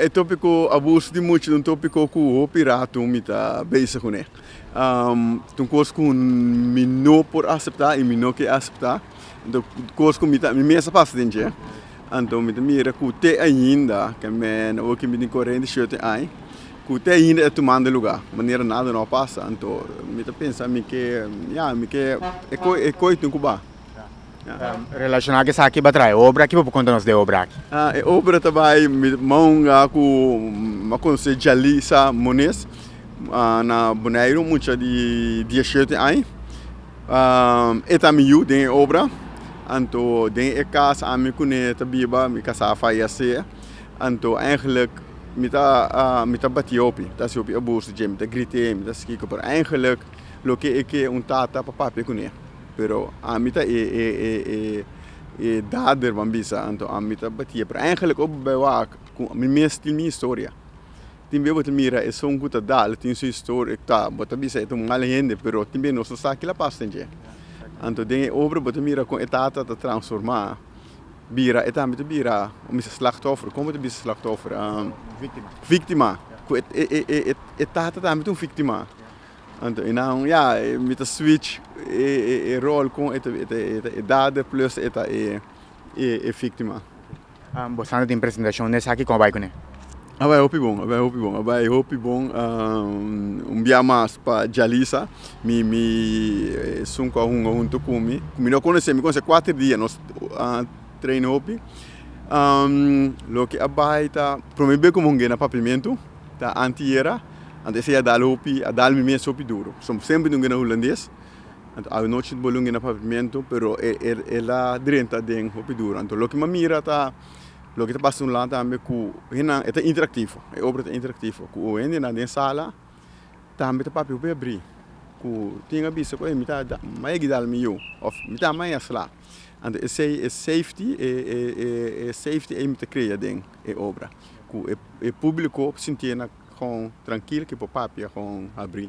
E tópiko abuso di mucha es un tópiko ku hopi rato mi ta bezig ku ne. Ta un kos ku mi no por aseptá i mi no ke aseptá. Kos ku mi ta mi mes a pasa den dje. Anto mi ta mira ku te ainda kèmen owo ku mi tin korente shete aña ku te ainda e ta tumando lugá manera nada no a pasa. Anto mi ta pensa mi ke ya mi ke e koi tin ku ba. Relacionado cu esaki bo a traha e obra, kico bo por conta nos den e obra aki? E obra ta bay maunga cu bo a conoce Jalisa Muniz na Boneiru, un mucha di diecisiete aña, e ta mi yu den e obra, anto den e cas ami cu ne ta biba mi casa a fayece, anto eindelijk mi ta mi ta bati hopi, mi ta hasi hopi abuso dje, mi ta grite, mi ta haci kico, pero eindelijk loke e ke un tata pa papia cu ne. pero ami ta e e e e e dader ban bisa anto ami ta batia pero eigenlik oi bo bai wak ku mi mes tin mi historia tin bia bo ta mira esun ku ta da lo tin su historia ta bo ta bisa e ta un mal hende pero tin bia nos ta sa kila pas ta dje anto den e obra bo ta mira kon e tata ta transforma bira e tambe ta bira o misa slachtoffer kon bo ta bisa slachtoffer viktima ku e e e e tata tambe ta un viktima. Anto e naun ya mi ta switch e rol con e ta e dader plus e ta e victima. Bosanto tin presentacion den esaki con a bai cune? A bai hopi bon, a bai hopi bon, a bai hopi bon un bia mas pa Jalisa mi mi esun cu a hunga hunto cu mi cu mi no a conoce mi conoce cuater dia nos a traina hopi loke a bai ta prome be cu mi hunga e na papiamento. Ta anti era, anto esei a dal hopi, a dal mi mes hopi duro, pasobra bo semper lunge na hulandes, anto aonochi bo lunge na pavimento, pero e e el a drenta den hopi duro, anto loke mi a mira ta loke ta pasa un la tambe ku henan e ta interaktivo, e obra ta interaktivo, ku hendenan den sala tambe ta papia hopi abri, ku tin a bisa ku ey mi ta mai a gidal mi yu, òf mi ta mai a sla, anto esei e safety e e safety ey mi ta krea den. e obra ku e públiko por sintié kon trankil, ke por papia kon habri.